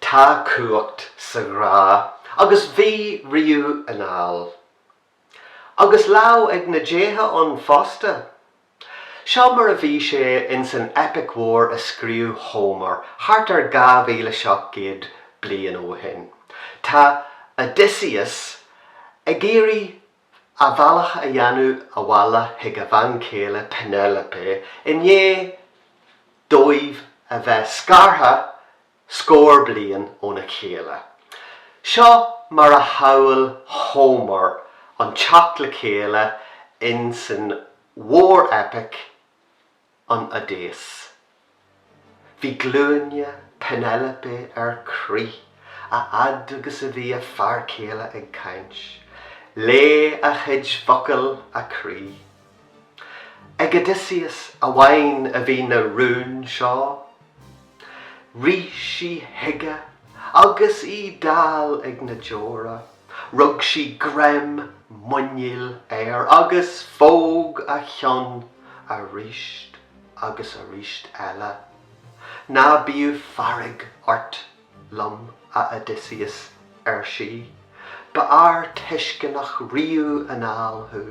Tá cumhacht sa ghrá agus bhí riamh anall. Agus lámh ag na déithe ann fosta. Seo mar a bhí sé ins an eipic mhór a scríobh Homer thart ar 2,700 bliain ó shin. Tá Odysseus ag iarraidh a bhealach a dhéanamh abhaile chuig a bhean chéile Penelope i ndiaidh dóibh a bheith scartha scór bliain óna chéile. Seo mar a shamhail Homer an teacht le chéile in san mhór-eipic An Oideas. Bhí glúine Penelope ar crith a fhad agus a bhí a fear céile ag caint. Leáigh a chuid focal a croí. Ag Odysseus amháin a bhí na rúin seo. Rith sí chuige agus í dall ag na deora. Rug sí greim muiníl air agus phóg a cheann arís agus arís eile. Ná bíodh fearg ort liom, a Odysseus, ar sí, ba fhear tuisceanach riamh anall thú.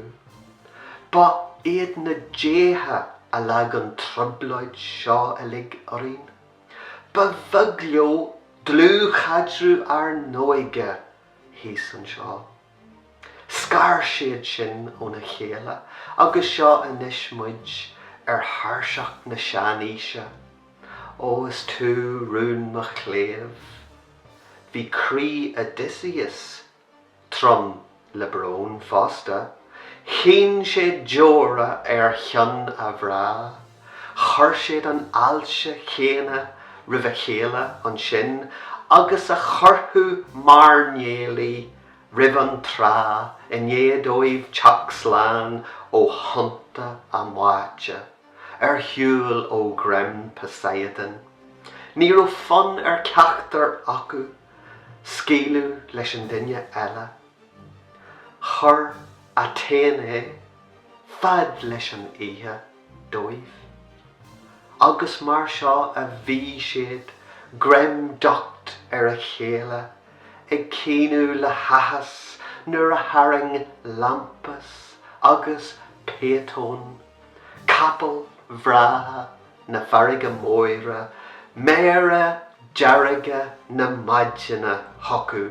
Ba iad na déithe a leag an trioblóid seo uilig orainn. Ba bheag leo dlúthchaidreamh ár n-óige thíos anseo. Scar siad sinn óna chéile agus seo anois muid ar thairseach na seanaoise. Ó is tú rún mo chléibh. Bhí croí Odysseus trom le brón fosta. Chaoin sé deora ar chionn a ghrá. Chuir siad an fháilte chéanna roimh a chéile ansin agus a chuirfeadh mairnéalaigh roimh an trá i ndiaidh dóibh teacht slán ó thonnta a mbáite ar shiúl ó ghreim Poseidon. Ní raibh fonn ar cheachtar acu scaoileadh leis an duine eile. Chuir Athéné fad leis an oíche. dóibh. Agus mar seo a bhí siad, greim docht ar a chéile, ag caoineadh le háthas nuair a tharraing Lampus agus Phaethon, capaill bhreátha na farraige móire, méara dearga na maidine chucu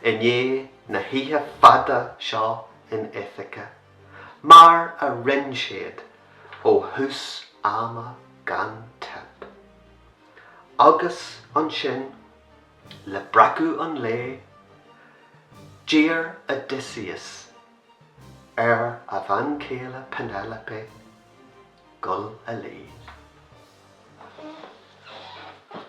i ndiaidh na hoíche fada seo in Ithaca. mar a rinne siad ó thús ama gan teip. Agus ansin, le breacadh an lae, d'iarr Odysseus ar a bhean chéile Penelope dul a luí.